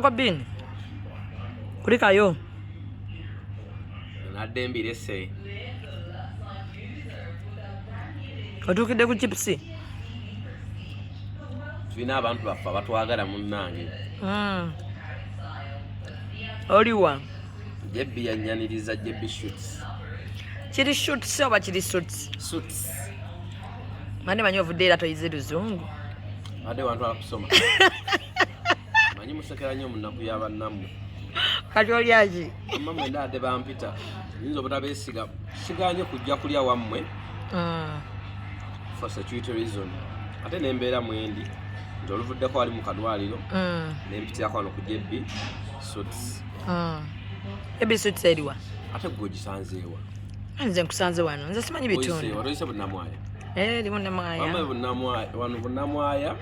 Kwa bini? Kulika yo. Nadde mbire se. Otukide ku chipsi. Tulina abantu baffa batwagala munnange. Mm. Oliwa. Jebbi yanyaniriza Jebbi shoots. Kiri shoots oba kiri suits? Suits. Mane manyo ovudde era toyize luzungu. Ade wantu akusoma. manyi musekera nnyo munaku ya bannammwe kati olyaki amma mwena ade bampita nyinza obutabeesiga siganye kujja kulya wammwe ah. for security reason ate nembeera mwendi nti oluvuddeko wali mu kadwaliro ah. nempitirako wano ku jb suits ah. jb suits eriwa ate gwe ogisanzeewa nze nkusanze wano nze simanyi bitundu wano bunamwaya eh, wano bunamwaya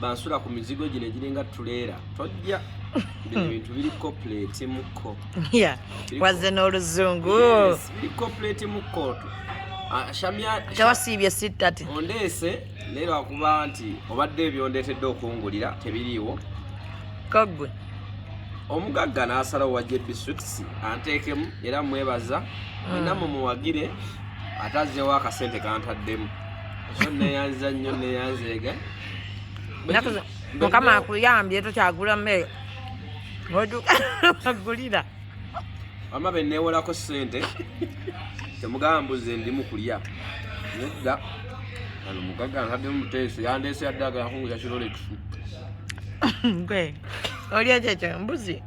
bansula ku mizigo gino egiringa tuleera tojja bino bintu biri copulate mukko wazze n'oluzungu biri copulate mukkoto ah, tewasiibye sittati ondeese naye lwakuba nti obadde ebyondeetedde okungulira tebiriiwo kaggwe omugagga n'asalawo wa jb swits anteekemu era mwebaza mm. olina mumuwagire ate azzewo akasente kantaddemu neyanza nnyo neyanzeega mukama akuyambye tokyagula mmere oduka agulira wama benewolako sente temugamba mbuze ndimu kulya nedda ano mugaga ntadde muteeso yandeese yadde agala kunguza kirolex gwe olya kyekyo mbuzi